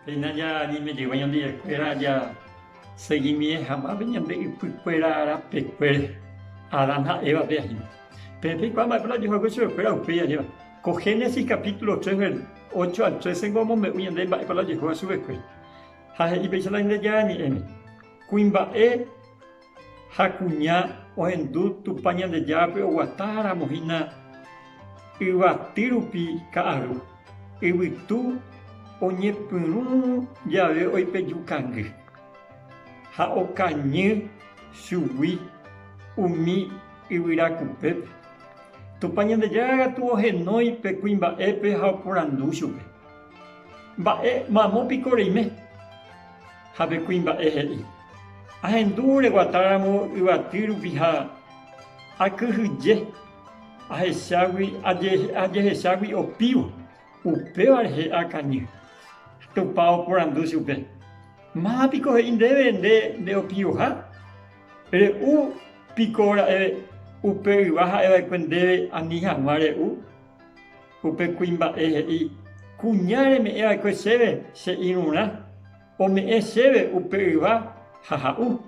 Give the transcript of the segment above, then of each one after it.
Péina jañeme'ẽva Ñanderuete aja seguimienhaguãme ñande ypykuéra rapekuére Adán ha Eva pe ajépa. Peẽ peikuaa mba'épa la ojejoyke chupekuéra upéi ajépa. Ko Génesis capítulo tres ver. Ocho al trece-pe omombe'u ñande mba'épa la ojejóva chupekuéra. Ha he'i péicha la Ñandejára Ñe'ẽme, Kuimba'e Ha kuña ohendu Tupã Ñandejárape oguata ramo hína yvaty rupi ka'aru, yvytu oñepyrũ jave oipeju kangy, ha okañy chugui umi yvyra kupépe. Tupã Ñandejára katu ohenói pe kuimba'épe ha oporandu chupe, Mba'e mamo piko reime? Ha pe kuimba'e he'i. Ahendu reguatáramo yvaty rupi ha akyhyje ajehechágui opívo, upéva rehe akañy. Tupã oporandu chupe, Máva piko he'i ndéve nde nde'opivoha? Re'u piko ra'e upe yva ha'eva'ekue ndéve ani hag̃ua re'u? Upe kuimba'e he'i, Kuña reme'ẽva'ekue chéve che irũrã. Ome'ẽ chéve upe yva ha ha'u.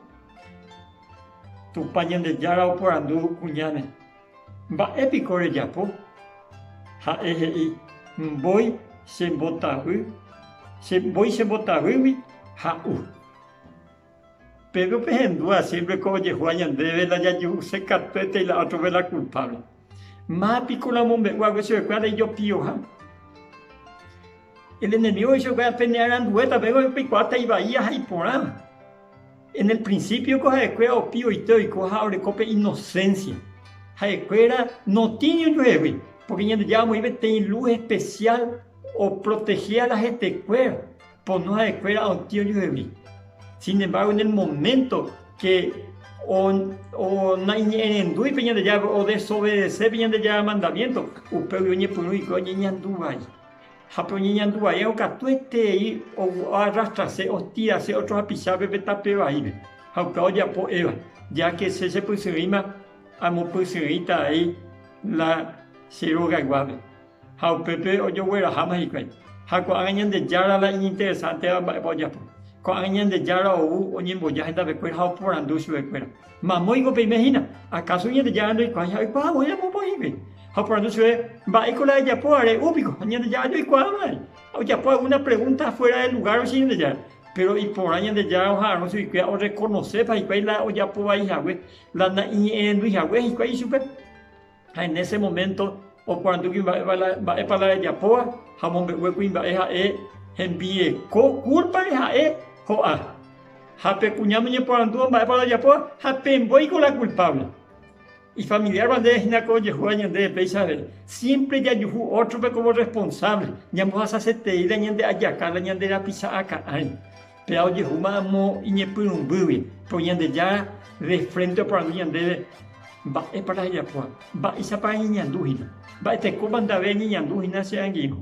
Tupã Ñandejára oporandu kuñáme, Mba'e piko rejapo? Ha'e he'i, Mbói che mbotavy, che mbói che mbotavýgui ha'u. Péro pehendúa siémpre ko ojehúa ñandéve la jajuhusekatuetéi la ótrope la kulpáble. Ma piko la omombe'u hague chupekuéra la ijopioha. El enemigo he'i chupekuéra pene arandue tape ko peikuaáta ivai aja iporã. En el principio ko ha'ekuéra opi oite oiko ha oreko pe inocencia. Ha'ekuéra no tiene ojuehegui, porque Ñandejára omoĩ peteĩ luz especial o proteger ala hetekuéra. pono ha'ekuéra otĩ ojuhegui. Sin embargo, en el momento que naiñe'ẽrendúi pe Ñandejárape, odesobedece pe Ñandejára mandamiento, upégui oñepyrũ hikuái oñeñandu vai. Ha pe oñeñandu vaíva katuetei oarrastrase, ostirase ótro hapichápe pe tape vaípe. Ha upéva ojapo Eva, ya que che chepysyrỹima amopysyrỹita avei la che rogayguápe. Ha upépe ojogueraháma hikuái. Ha ko'ág̃a Ñandejára la iñinteresánteva mba'épa ojapo. Ko'ág̃a Ñandejára ou oñemboja hendavekuéra ha oporandu chuvekuéra, Mamóiko peime hína? Akáso Ñandejára ndoikuaái ha oikuaávo ejapo pohĩgui? Ha oporandu chupe, Mba'éiko la ejapo are'u piko? Ha Ñandejára joikuaámavai. Ha ojapo algúna pregúnta afuéra de lugár oicha Ñandejára. Péro iporã Ñandejára oha'arõ chuguikuéra orrekonosépa hikuái la ojapo vai hague, la na'iñe'ẽrendúi hague hikuái ichupe. Ha en ese momento oporandugi mba'épa la rejapóva ha omombe'ue kuimba'e ha'e hembieko kúlpare ha'e ho'a. Ha pe kuña noñeporandúva mba'épa la rejapóva ha pe mbóiko la kulpávle. Ifamiliárva ndéve hína ko ojehu'ã ñandéve péichave, siémpre jajuhu ótrope komo rresponsávle, ñambohasasetei la ñande ajaka la ñande rapicha'a ka'ãi. Péa ojehúma amo iñepyrũmbýgui, ko Ñandejára de frénte oporandu ñandéve, Mba'épa ajapoha? Mba'éichapa añeñandu hína? Mba'etekópa ndave añeñandu hína che angirũ?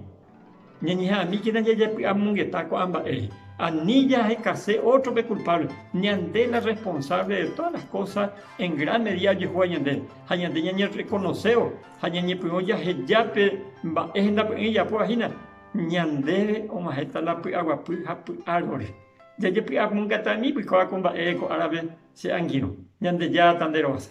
Ñañeha'ãmíkena jajepy'amongeta ko'ã mba'ére. Ani jahekase ótrope kulpávle. Ñande la responsávle de tódas las kósas en gran medída ojehúva ñandéve. Ha ñande ñañerrekonosévo ha ñañepyrũ jahejápe mba'e hendapy'ỹi ijapóva hína. Ñandéve og̃uahẽta la py'aguapy ha py'árore. Jajepy'amongatami oikóva ko mba'ére ko árape che angirũ. Ñandejáta nde rovasa.